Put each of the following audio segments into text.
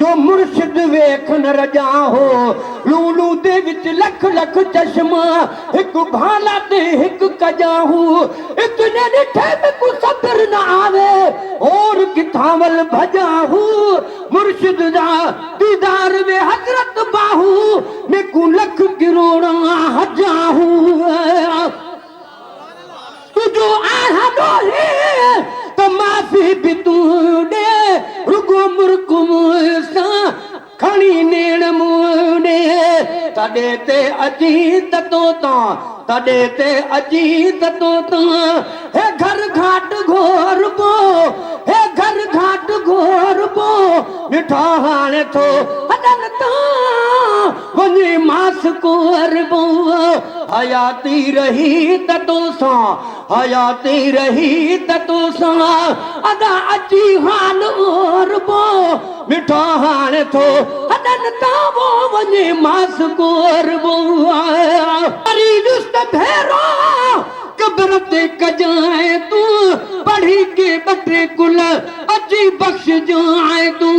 جو مرشد ويک نه رڄان هو لولو تي وچ لک لک چشما هڪ ڀالا تي هڪ ڪڄان هو اتني ڏٺي به ڪو صبر نه آوي هور ڪٿان ول ڀڄان هو مرشد جا ديدار ۾ حضرت باهو ۾ ڪون لک ڪروڙا هجان هو. تنهنجو آهه ڏوهي ته معافي به تون ڏي رڳو مرڪ مون سان کڻي نيڻ مون ڏي تڏي تي اچي ته تو تان تڏي تي اچي ته تو تان هي گهر گهاٽ گهوربو هي گهر گهاٽ گهوربو نٺا هاڻي ٿو هڏن تان وڃي ماس ڪنور بنو حياتي رهي ته تو سان حياتي رهي ته تو سان ادا اچي حال اور بو مٺو هاڻ ٿو هڏن تان وو وڃي ماس ڪنور بنو فريدس ته ڀيرو قبر تي ڪجانء تون پڙهي ڪي ٻه ٽي گل اچي بخشجانء تون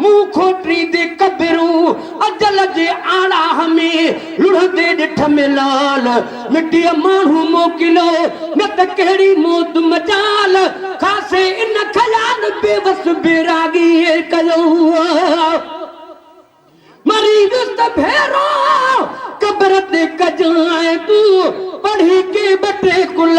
مون کوٽري دي قدرو اجل جي آڙاھ ۾ لڙھندي ڏٺ ۾ لال مٽيء ماڻھو موڪليو نه ته ڪهڙي موت مجال خاصي ان خيال بيوس بيراڳي ڪيو مري ويس ته ڀيرو قبر تي ڪجانء تون پڙھي ڪي ٻه ٽي ڪل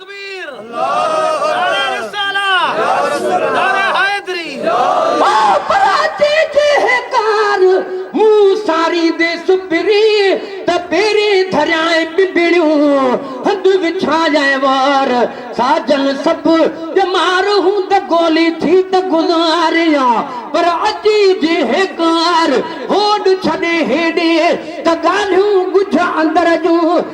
تڪبير نعرہ رسالة نعرہ حيدري. ڀاپراتي جي هيڪار مون ساريندي سپري ته پيري ڌريائين ٻنڀڻيون هنڌ وڇايائين وار ساجن سڀ ڄمار هون ته گولي ٿي ته گذاريان پر اتي جي هيڪار هوڏ ڇڏي هيڏي ته ڳالهيون ڳجهه اندر جون